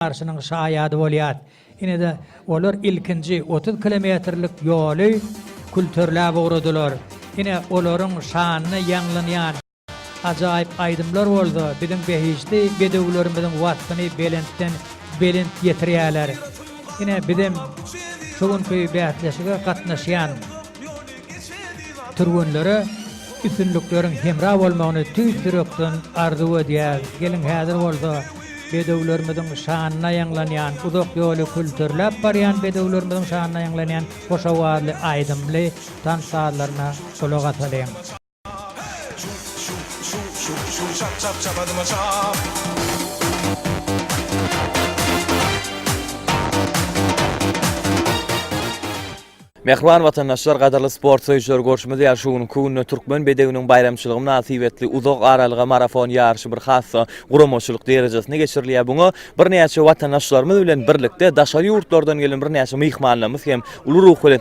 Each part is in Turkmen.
barşynyň şaýady bolýar. Ine-de, olar ilkinji otuz kilometrlik ýoly külterläp ugradylar. Ine, olaryň şanyna ýaňlanýan ajaýyp aýdymlar bolsa biziň behişdi bedewlerimiziň waspyny belentden belent ýetirýärler. Ine, bizem şu günki bäsleşige gatnaşýan. Türgenlere üstünlikleriň hemra bolmagyny tüýs ýürekden arzuw edýäris. Geliň häzir bolsa bedewlerimiziň şanyna ýaňlanýan, uzak ýoly külterläp barýan bedewlerimiziň şanyna ýaňlanýan hoş owazly aýdymly tans sazlaryna gulak asalyň. Mähriban watandaşlar, gadyrly sport söýüjiler görşümiz ýaly şu günki günde türkmen bedewiniň baýramçylygy mynasybetli uzak aralyga marafon ýaryşy bir hassa guramaçylyk derejesinde geçirilýär. Muňa birnäçe watandaşlarymyz bilen birlikde daşary ýurtlardan gelen birnäçe myhmanlarymyz hem uly ruh bilen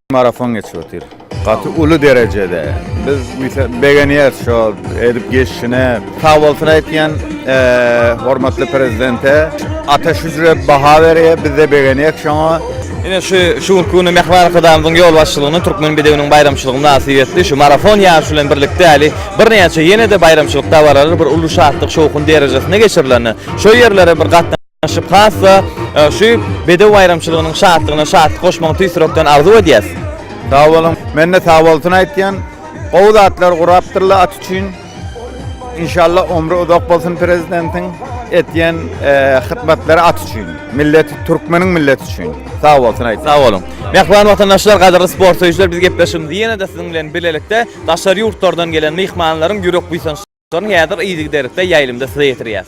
Marafon geçip otyr. Gaty uly derejede. Biz begenýäs şo edip geçişine. Sag bolsun aýtýan hormatly prezidente. Ata şüjre baha berýär, biz-de begenýäk şoňa. Ine şu şu günki güni Mähriban Arkadagymyzyň ýolbaşçylygynda Türkmen bedewiniň baýramçylygy mynasybetli şu marafon ýaryşy bilen birlikde häli birnäçe ýene-de baýramçylyk dabaralary bir uly şatlyk-şowhun derejesinde geçirilende, şo ýerlere bir gatnaşyp, Şübhasda şu bedew baýramçylygynyň şatlygyna şatlyk goşmagyny tüýs ýürekden arzuw edýäs. Sag boluň. Men-de sagbolsun aýtýan. Gowy zatlar gurapdyrlar at üçin. Inşallah ömri uzak bolsun prezidentiň. Etýän hytmatlary at üçin. Millet türkmeniň milleti üçin. Sag bolsun aýtýan. Sag boluň. Mähriban watandaşlar, gadyrly sport söýüjiler biz gepleşigimizi ýene-de siziň bilen bilelikde daşary ýurtlardan gelen myhmanlaryň ýürek buýsançlaryny häzir yzygiderlikde ýaýlymda size ýetirýäs.